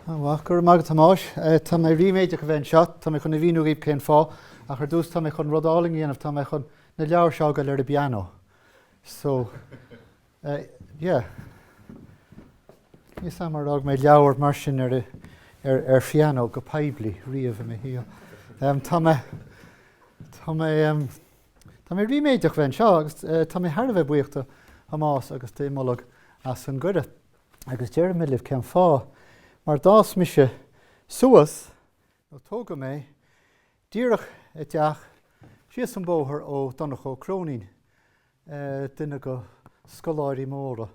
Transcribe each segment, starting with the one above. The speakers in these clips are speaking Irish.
Ah, go raibh maith agat a Thomáis. Tá mé ríméideach a bheith anseo. Tá mé chun a mhíniú dhaoibh cén fáth ach ar dtús tá mé chun rud álainn a dhéanamh, tá mé chun na leabhair seo a fhágáil ar an bpianó. So, yeah. Níl 's a'm ar fhág mé leabhar mar sin ar ar phianó go poiblí riamh i mo shaol. Tá mé, tá mé, tá mé ríméideach a bheith anseo agus tá mé thar a bheith buíoch do Thomás agus d'Imbolc as an gcuireadh. agus déarfaidh mé libh cén fáth, mar d'fhás mise suas, nó tógadh mé, díreach i dteach síos an bóthar ó Donncha Ó Cróinín, duine go scoláirí móra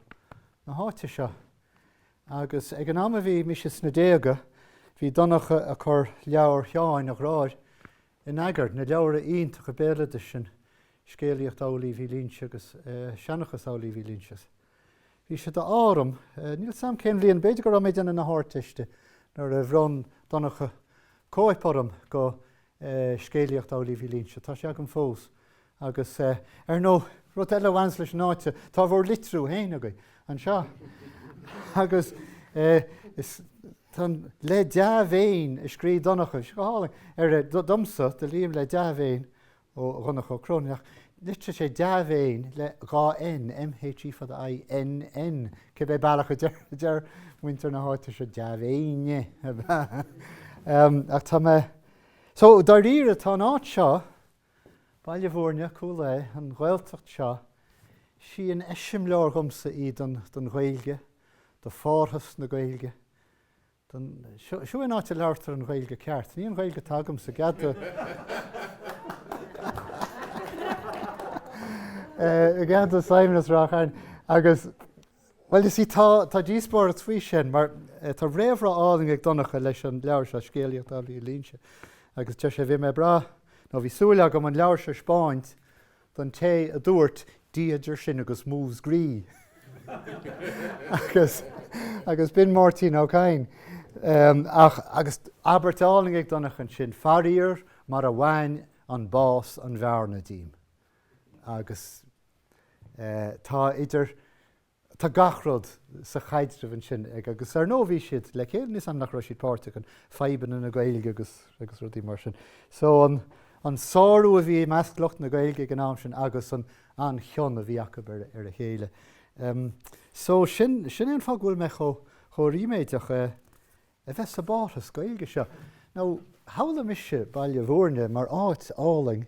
na háite seo. Agus ag an am a bhí mise sna déaga, bhí Donncha a' cur leabhar Sheáin a dheartháir in eagar, na leabhra iontacha béaloidis sin, Scéalaíocht Amhlaoibh Uí Luínse agus Seanchas Amhlaoibh Uí Luínse. Bhí sé d'ádh orm, níl 's a'm cén bhliain, b'fhéidir go raibh mé ag déanamh na hArdteiste, nuair a bhronn Donncha cóip orm go Scéalaíocht Amhlaoibh Uí Luínse. Tá sé agam fós. Agus ar ndóigh, rud eile a bhaineas leis an áit seo, tá bhur litriú féin agaibh anseo. Agus tá le dea-mhéin a scrígh Donncha go hálainn air domsa, do Liam le dea-mhéin, Ó Dhonncha Ó Cróinín, ach litrigh sé dea-mhéin le dhá N, MHE fada I, N, N, cibé bealach a deir muintir na háite seo dea-mhéine ach tá mé So dáiríre tá an áit seo, Baile Mhúirne, Cúil Aodha, an Ghaeltacht seo, sí an eiseamláir dhomsa í don Ghaeilge, do phárthas na Gaeilge, Don, seo, seo an áit a labhartar an Ghaeilge ceart. Ní an Ghaeilge atá agamsa, gcead do, i gcead do Simon as Ráth Chairn. Agus, bhuel you see, tá, tá díospóireacht faoi sin mar tá réamhrá álainn ag Donncha leis an leabhar seo, Scéalaíocht Amhlaoibh Uí Luínse. Agus deir sé, bhí mé ag brath, nó bhí súil agam an leabhar seo a spáint, don té a dúirt Dia idir sinn agus Múscraí agus agus b'in Máirtín Ó Cadhain. Ach agus abairt álainn ag Donncha ansin, Faraor mar a bhain an bás an bhearna díom. Agus tá idir Tá gach rud sa chaidreamh ansin ag, agus ar ndóigh bhí siad le chéile, níl 's a'm nach raibh siad páirteach in fadhbanna na Gaeilge agus agus rudaí mar sin. So an an sárú a bhí i measc lucht na Gaeilge ag an am sin agus an an chion a bhí acu ar ar a chéile. Em so sin sin é an fáth go bhfuil mé chomh chomh ríméideach a a bheith sa bpárthas Gaeilge seo. Now shamhlaigh mise Baile Bhúirne mar áit álainn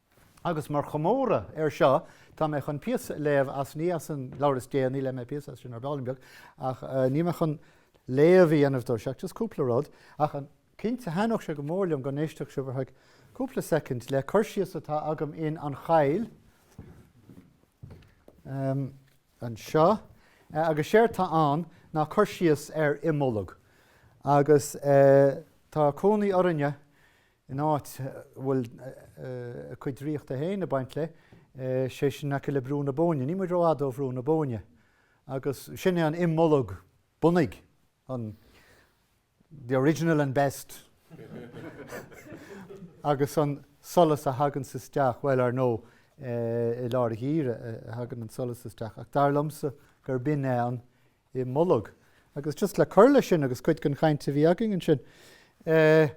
Agus mar chomóradh ar seo tá mé chun píosa a léamh as, ní as an leabhar is déanaí, léigh mé píosa as sin ar ball beag, ach níl mé chun léamh a dhéanamh dó, seachas just cúpla rud. Ach cinnte thaitneodh sé go mór liom go n-éistfeadh sibh ar feadh cúpla soicind le cur síos atá agam in An Choill anseo. Agus séard tá ann ná cur síos ar Imbolg. Agus tá cónaí orainne in áit a bhfuil a cuid draíochta féin ag baint léi, sé sin aice le Brú na Bóinne. Níl muid ró-fhada ó Bhrú na Bóinne agus sin é an imbolg bunaigh, an the original and best agus an solas a thaganns isteach, bhuel ar ndóigh i lár an gheimhridh a thagann an solas isteach ach dar liomsa gur b'in é an Imbolg. Agus just le cur le sin agus cuid den chaint a bhí againn ansin, eh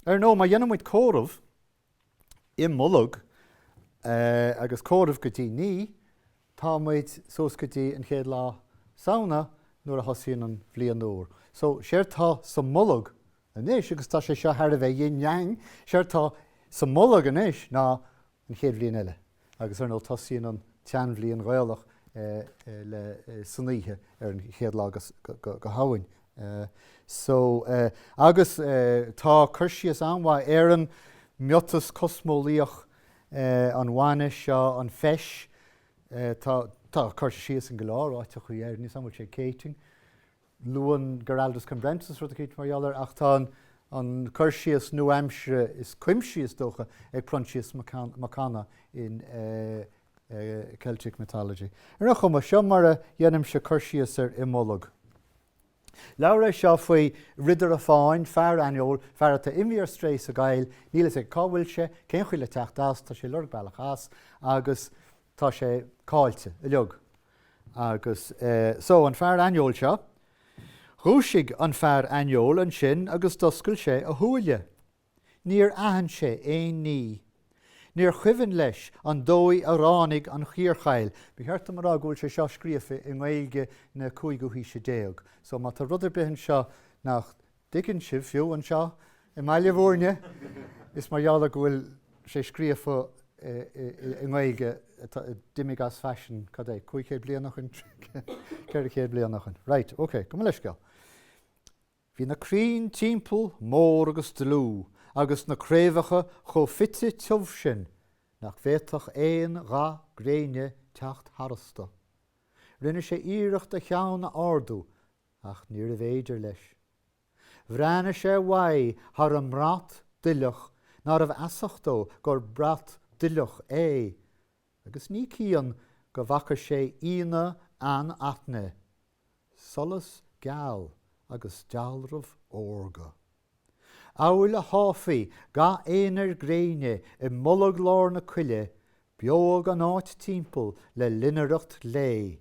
ar ndóigh má dhéanann muid comhaireamh ó Imbolg eh agus comhaireamh go dtí naoi, tá muid suas go dtí an chéad lá Samhna nuair a thosaíonn an bhliain úr. So séard tá sa mbolg anois, agus tá sé seo thar a bheith yin yang, séard tá sa mbolg anois ná an chéad bhliain eile. Agus ar ndóigh tosaíonn an tseanbhliain Ghaelach le san oíche ar an chéad lá de Shamhain. So agus tá cur síos an-mhaith ar an miotas cosmeolaíoch, an bhainis seo, an feis, tá cur síos in go leor áiteachaí air, ní fhios an bhfuil sé i gCéitinn, luann Giraldus Cambrensis rud eicínt mar gheall air, ach tá an cur síos nua-aimsire is cuimsí, is dócha, ag Proinsias Mac Cana in Celtic Mythology. Ar aon chuma, seo mar a dhéanaimse cur síos ar Imbolg. Leabhar é seo faoi ridire fáin, fear aineoil, fear atá imithe ar strae sa gcoill, níl fhios aige cá bhfuil sé, cén chaoi le teacht as, tá sé ag lorg bealach as, agus tá sé caillte, uiliog. Agus so, an fear aineoil seo. Dhúisigh an fear aineoil ansin agus d'oscail sé a shúile. Níor aithin sé aon ní. Níor chuimhin leis an dóigh a ráinig an chiarchoill. Ba cheart dom a rá go bhfuil sé seo scríofa i nGaeilge na cúigiú haoise déag. So, má tá rud ar bith anseo nach. dtuigeann sibh, fiú anseo i mBaile Mhúirne, is mar gheall ar go bhfuil sé scríofa i nGaeilge a d'imigh as faisean, cad é, cúig chéad bliain ó shoin, ceithre chéad bliain ó shoin. Raight, ok, gabh mo leithscéal. Bhí na crainn timpeall mór agus dlúth agus na craobhacha chomh fite tiubh sin nach bhféadfadh aon gha gréine teacht tharastu. Rinne sé iarracht a cheann a ardú Ach níorbh fhéidir leis. Bhreathnaigh sé uaidh thar an mbrat duilleach nárbh fheasach dó gur brat duilleach é agus ní cian go bhfaca sé ionadh anaithnid, solas geal agus dealramh órga. Amhail a sháfaí ga aonair gréine i mbolg lár na coille, beodh an áit timpeall le loinnireacht lae,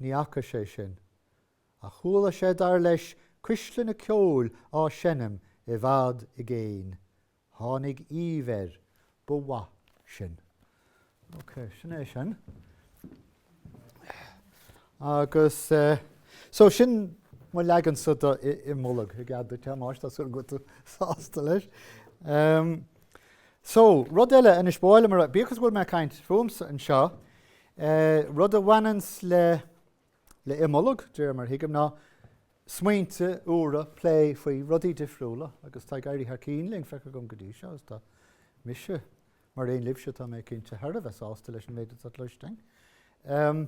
Ní fhaca sé sin. Ach chuala sé, dar leis, cuisleanna ceoil á seinm i bhfad i gcéin. Tháinig aoibh air. Ba mhaith sin. Ok, sin é sin. Agus so sin mo leagansa de Imbolc, i gcead duit, a Thomáis, tá súil go bhfuil tú sásta leis. So, rud eile anois, ba mhaith liom a rá, bíodh is go bhfuil mé ag caint fúmsa anseo, E, Rud a bhaineanns le, le Imbolc, de réir mar thuigim, ná smaointe úra, plé faoi rudaí difriúla agus tá ag éirí thar cinn lena bhfuil feicthe agam go dtí seo agus tá mise, mar aon libhse tá mé cinnte, thar a bheith sásta leis an méid atá cloiste againn. Em,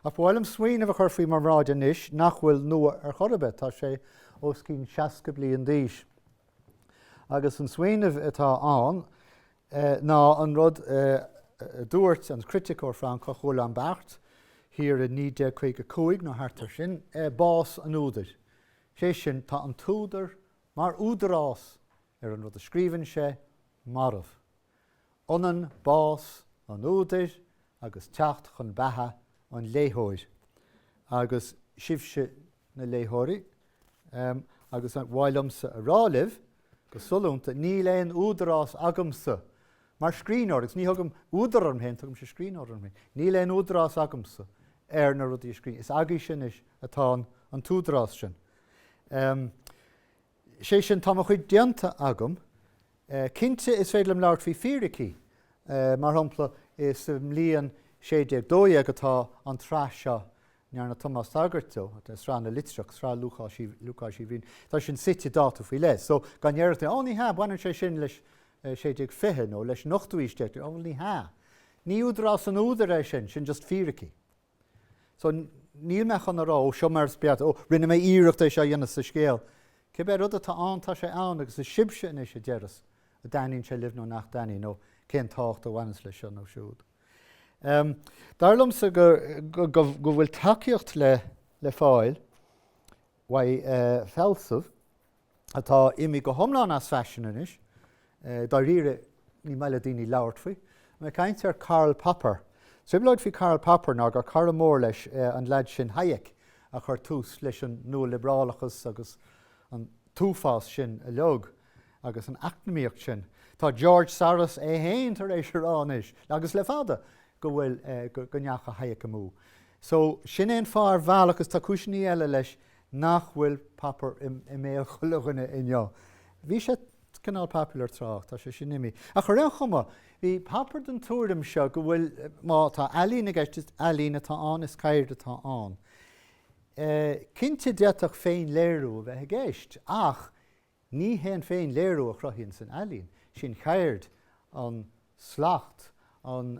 ach ba mhaith liom smaoineamh a chur faoi bhur mbráid anois nach bhfuil nua ar chor ar bith, tá sé os cionn 60 bliain d'aois agus an smaoineamh atá ann é ná an rud a dúirt an criticeoir Francach Roland Barthes thiar i 1955 nó thart air sin, bás an údair. Sé sin, tá an t-údar, mar údarás ar an rud a scríobhann sé, marbh. Ionann bás an údair agus teacht chun beatha an léitheoir. Agus sibhse, na léitheoirí, agus ba mhaith liomsa a rá libh, go sollúnta, níl aon údarás agamsa mar scríbhneoir, agus ní thugaim údar orm féin, tugaimse scríbhneoir orm féin, níl aon údarás agamsa ar na rudaí a scríobhaim. Is agaibhse anois atá an t-údarás sin. Sé sin, tá mo chuid déanta agam. Cinnte is féidir liom labhairt faoi fíricí. Mar shampla, is sa mbliain 1612 atá an tsraith seo ndearna Tomás tagairt dó, de Sraith na Litreach, Sraith Lúcáis Uí Bhriain, tá sin suite i dtáta faoi leith. So, dá ndéarfadh duine, Ó, ní hea, baineann sé sin leis an 1620 nó leis an ochtú aois déag, Ó, bhuel, ní hea. Ní údarás an údair é sin, sin just fíricí. So, níl mé chun a rá, ó, seo mar is beata, ó, rinne mé iarracht é seo a dhéanamh sa scéal. Cibé rud atá ann, tá sé ann, agus is sibhse anois a deireas an dtaitníonn sé libh nó nach dtaitníonn, nó cén tábhacht a bhaineanns leis seo nó siúd. Dar liomsa go bhfuil tacaíocht le fáil uaidh, fealsamh atá imithe go hiomlán as faisean anois, dáiríre ní maith le daoine labhairt faoi, mé ag caint ar Karl Popper. An trioblóid faoi Karl Popper ná gur cara mór leis an leaid sin Hayek a chuir tús leis an nua-liobrálachas agus an t-uafás sin a leag agus an eacnamaíocht sin. Tá George Soros é féin tar éis a rá anois, agus le fada, go bhfuil, go ndeachaigh Hayek amú. So, sin é an fáth ar bhealach, agus tá cúiseannaí eile leis nach bhfuil Popper i mbéal chuile dhuine inniu. Bhí sé cineál popular tráth, tá sé sin imithe. Ach ar aon chuma, bhí Popper den tuairim seo go bhfuil, má tá ealaín i gceist, is ealaín atá ann, is ceird atá ann. Cinnte d'fhéadfadh féin-léiriú a bheith i gceist, ach Ní hé an féin-léiriú a chruthaíonns an ealaín, is í an cheird, an slacht, an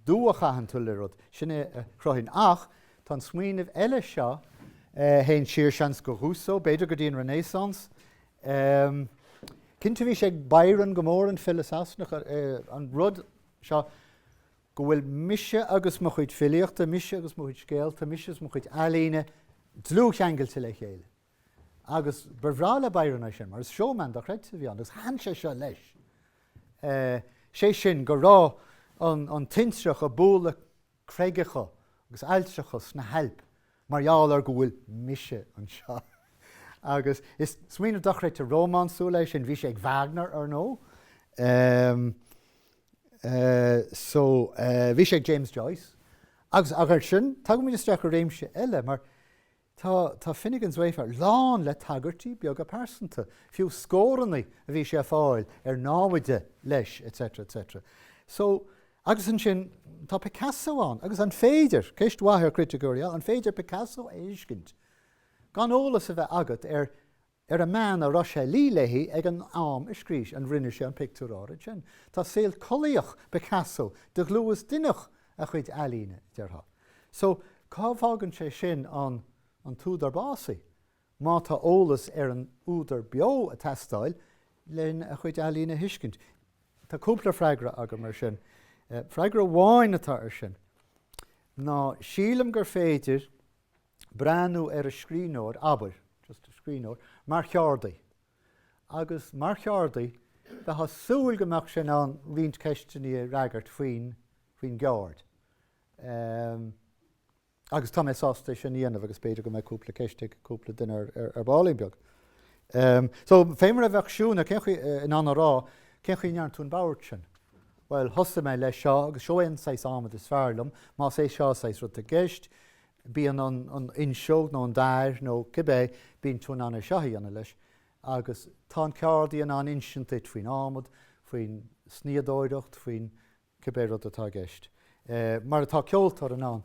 dua a chaitheann tú le rud, sin é a chruthaíonn. Ach tá an smaoineamh eile seo, a théann siar, seans, go Rousseau, b'fhéidir go dtí an Renaissance. Cinnte bhí sé ag Byron go mór, an file Sasanach, an rud seo go bhfuil mise agus mo chuid filíochta, mise agus mo chuid scéalta, mise agus mo chuid ealaíne dlúthcheangailte le chéile. Agus ba bhreá le Byron é sin mar is showman dochreidte a bhí ann agus thaitin sé seo leis, sé sin go raibh an tintreach ag bualadh creigeacha agus aillteacha sna hAilp mar gheall ar go bhfuil mise anseo. Agus is smaoineamh dochreidte rómánsúil é sin, bhí sé ag Wagner ar ndóigh, so bhí sé ag James Joyce agus ansin, tagaimid isteach i réimse eile mar Tá, tá Finnegans Wake lán le tagairtí beaga pearsanta, fiú scórannaí a bhí sé a fáil ar námhaide leis etc. etc. So, agus ansin tá Picasso ann agus an féidir, ceist mhaith do chriticeoirí, an féidir Picasso a thuiscint gan eolas a bheith agat ar ar an mbean a raibh sé ag luí léithi ag an am a scríobh sé, a rinne sé an pictiúr áirid sin. Tá saol collaíochta Picasso de dhlúth is d'inneach a chuid ealaíne, déarfá. So, cá bhfágann sé sin an, an t-údar básaithe, má tá eolas ar an údar beo a teastáil len a chuid ealaíne a thuiscint? Tá cúpla freagra agam ar sin. Freagra amháin atá ar sin ná, sílim gur féidir breathnú ar an scríbhneoir, abair, just an scríbhneoir, mar cheardaí. Agus mar cheardaí, bheith á súil go mbeadh sé in ann roinnt ceisteanna a fhreagairt faoin, faoin gceird. Ehm, agus tá mé sásta é sin a dhéanamh agus b'fhéidir go mbeidh cúpla ceist ag cúpla duine ar, ar, ar baillín beag. Ehm, so, fé mar a bheadh siúinéir, cén chaoi, eh, in ann a rá, cén chaoi a ndearna tú an babhairt sin? Bhuel, thosaigh mé leis seo agus seo é an saghas adhmaid is fearr liom. más é seo an saghas rud atá i gceist, bíodh an an fhuinseog nó an dair nó cibé, bíonn tú in ann é seo a dhéanamh leis. Agus tá an ceardaí in ann insint duit faoin adhmad, faoin snoíodóireacht, faoin cibé rud atá i gceist. Mar atá ceoltóir in ann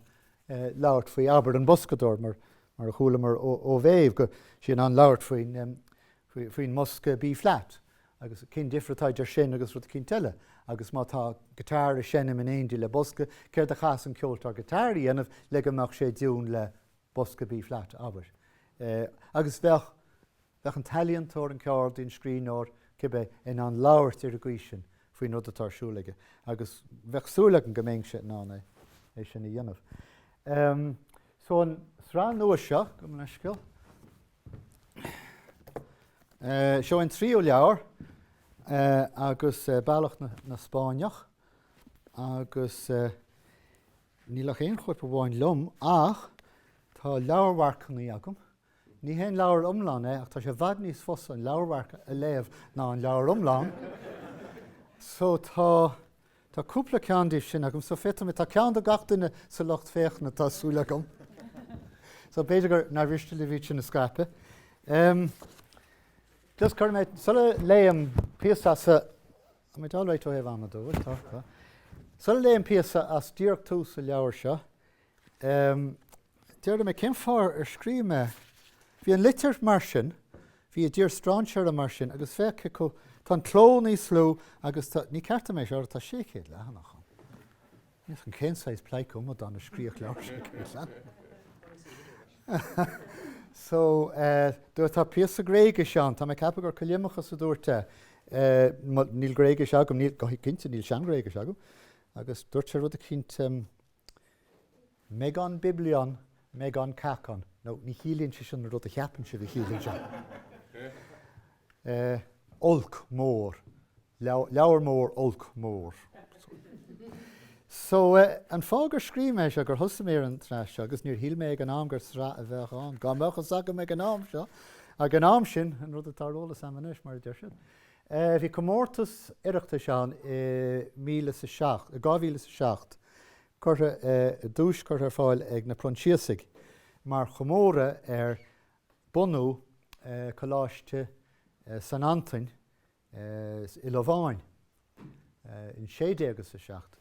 labhairt faoi, abair, an boscadóir, mar mar a chualamar ó Mhéabh, go bhfuil sí in ann labhairt faoin faoin mbosca B-flat. Agus cén difear atá idir sin agus rud eicínt eile? Agus má tá guitar ag seinm in éindigh le bosca, céard a chaithfeas an ceoltóir guitar a dhéanamh le go mbeadh sé i dtiún le bosca B flat, abair? Agus bheadh, bheadh an t-ealaíontóir, an ceardaí, an scríbhneoir, cibé, in ann labhairt ar an gcaoi sin faoin rud atá ar siúl aige. Agus bheadh súil agam go mbeinnse in ann é, é sin a dhéanamh. So an sraith nua seo, gabh mo leithscéal, Seo an tríú leabhar, Bealach na Spáinneach agus níl ach aon chóip amháin liom ach tá leabharmharcanna agam. Ní haon leabhar iomlán é ach tá sé i bhfad níos fusa an leabharmharc a léamh ná an leabhar iomlán. So tá Tá cúpla ceann díobh sin agam so féadfaidh muid, tá ceann do gach duine sa lucht féachana tá súil agam. So b'fhéidir gur, nár mhiste libh iad sin a scaipeadh. Em. Just cuirfidh mé, sula léim píosa as a, am I all right ó thaobh ama de, bhfuil? Tá, tá. Sula léim píosa as díreach tús an leabhair seo, Déarfaidh mé cén fáth ar scríobh mé. Bhí An Litir mar sin, bhí I dTír Strainséartha mar sin agus féach cé chomh, tá an cló níos lú agus tá, ní ceart dom é seo, tá 600 leathanach ann. Níl fhios a'm cén saghas pleidhce amadán a scríobhfadh leabhar 600 leathanach. So, dúirt, tá píosa Gréigise ann, tá mé ag ceapadh gur Callimachus a dúirt é, níl Gréigis agam, níl, go cinnte níl Sean-Ghréigis agam, agus dúirt sé rud eicínt, Mega biblion, mega kakon, now ní chiallaíonn sé sin an rud a cheapann sibh a chiallaíonn sé. Olc mór, leabhar mór olc mór. So an fáth gur scríobh mé seo, gur thosaigh mé ar an tsraith seo agus níor shíl mé ag an am gur sraith a bheadh ann, dá mbeadh fhios agam ag an am seo, ag an am sin, an rud atá ar eolas a'm anois mar a deir siad, Bhí comórtas Oireachtais ann i dhá mhíle is a seacht, i 2007, curtha, duais curtha ar fáil ag na Proinsiasaigh mar chomóradh ar bunú Coláiste San Antaine i Lováin in sé déag is a seacht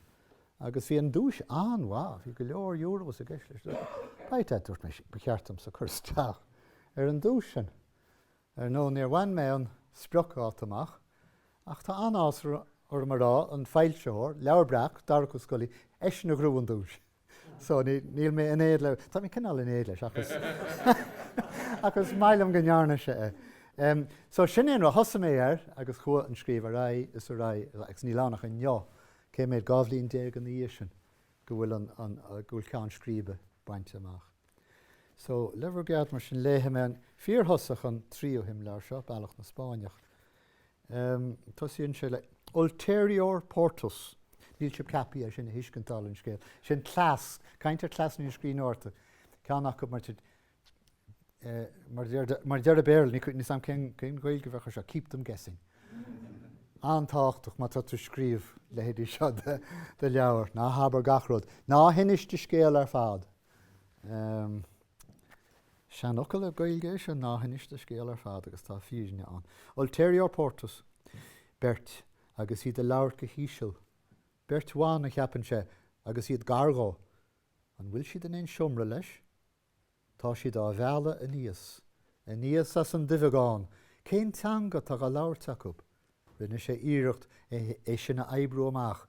agus bhí an duais an-mhaith, bhí go leor Euros i gceist leis. B'ait é, dúirt mé ba cheart domsa cur isteach ar an duais sin. Ar ndóigh níor bhain mé an spriocdháta amach, ach tá an-áthas orm a rá, an foilsitheoir, Leabhar Breac, Darach Ó Scolaí, eisean a ghnóthaigh an duais. So níl mé in éad le, tá mé cineál in éad leis ach is ach is maith liom go ndearna sé é. So sin é an rud, thosaigh mé air agus chuaigh an scríobh ar aghaidh is ar aghaidh agus níl ann ach inniu, cé mhéid, dhá bhliain déag ina dhiaidh sin go bhfuil an, go bhfuil ceann scríbe bainte amach. So, le bhur gcead, mar sin, léifidh mé an fíorthosach, an tríú himleabhar seo, Bealach na Spáinneach. Tosaíonn sé le Ulterior Portus. Níl sibh ceaptha é sin a thuiscint dála an scéil. Sin cleas, caint ar cleasanna na scríbhneoireachta. Ceann acu, mar a deir an Béarla, níl a fhios agam cén Ghaeilge a bheadh ar seo, keep them guessing. An-tábhachtach má tá tú ag scríobh leithéidí seo de leabhar. Ná habair gach rud. Ná hinis do scéal ar fad. Seanfhocal Gaeilge é seo, Ná hinis do scéal ar fad agus tá fírinne ann. Ulterior portus. Beirt agus iad ag labhairt go híseal. Beirt bhan, a cheapann sé, agus iad gar dhó. An bhfuil siad in aon seomra leis? Tá siad á mhealladh aníos. Aníos as an duibheagán. Cén teanga atá dhá labhairt acu? Rinne sé iarracht é sin a oibriú amach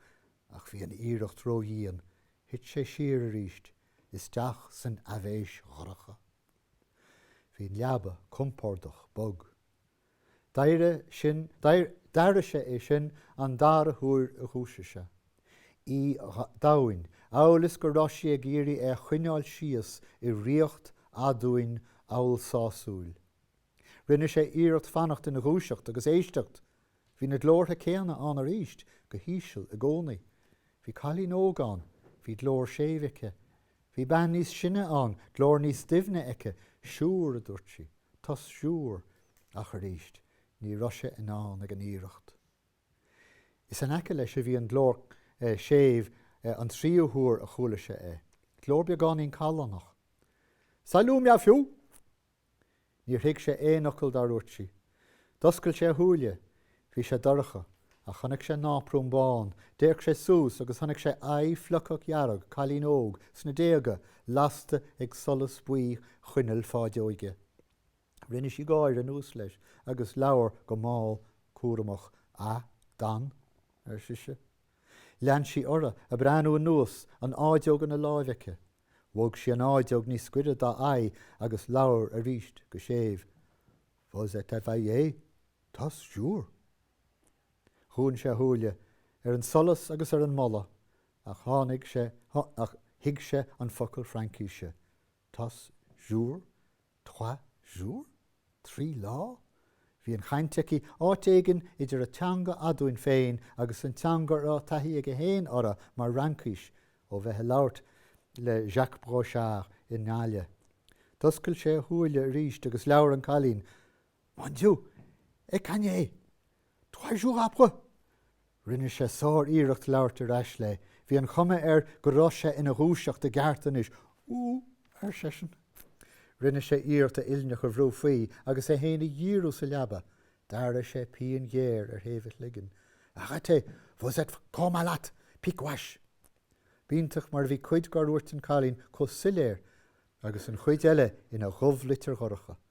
Ach bhí an iarracht ró-dhian, thit sé siar arís, isteach san aibhéis dhorcha. Bhí an leaba compordach bog. D'airigh sé é sin an dara huair a dhúisigh sé. Í domhain, amhail is go raibh sí ag iarraidh é a choinneáil síos i riocht aduain amhail sásúil. Rinne sé iarracht fanacht ina dhúiseacht agus éisteacht, Bhí na glórtha céanna ann arís go híseal i gcónaí. Bhí cailín óg ann, bhí glór séimh aici. Bhí bean níos sine ann, glór níos doimhne aici. Siúr, a dúirt sí, tos siúr. Ach arís, ní raibh sé in ann ag an iarracht. Is in aice leis a bhí an glór séimh an tríú huair a chuala sé é. Glór beagáinín callánach. Salut mé fiú! Níor thuig sé aon fhocal dár dhúirt sí. D'oscail sé a shúile. Bhí sé dorcha. Ach chonaic sé náprún bán. D'fhéach sé suas agus chonaic sé aghaidh phlucach dhearg, cailín óg, sna déaga, lasta ag solas buí choinneal fáideoige. Rinne sí gáire anuas leis agus labhair go mall cúramach. A, Dan? ar sise. Lean sí uirthi, ag breathnú anuas, an fháideog ina láimh aici. Bhog sí an fháideog níos gaire dá aghaidh agus labhair arís go séimh. Vous êtes éveillé? Tos siúr. Dhún sé a shúile, ar an solas agus ar an mboladh, ach tháinig sé, ach thuig sé an focal Fraincise. Tos siúr? Trois jours? Trí lá? Bhí an chaint aici áit éigin idir a teanga aduain féin agus an teanga a raibh taithí aige féin uirthi mar Fhraincis ó bheith ag labhairt le Jacques Brochard i nGaillimh. D'oscail sé a shúile arís agus labhair an cailín. Mon Dieu! Et quand est? Trois jours après? Rinne sé sár-iarracht labhairt ar ais léi. Bhí an chuma air go raibh sé ina dhúiseacht i gceart anois. Ooh! ar seisean. Rinne sé iarracht a uillinneacha a bhrú faoi agus é féin a dhíriú sa leaba. D'airigh sé pian ghéar ar thaobh a chloiginn. Arrêtez! Vous êtes fort malade! Pic gouache! B'iontach mar a bhí cuid dár dhúirt an cailín chomh soiléir agus an chuid eile ina dhubh-litir dhorcha.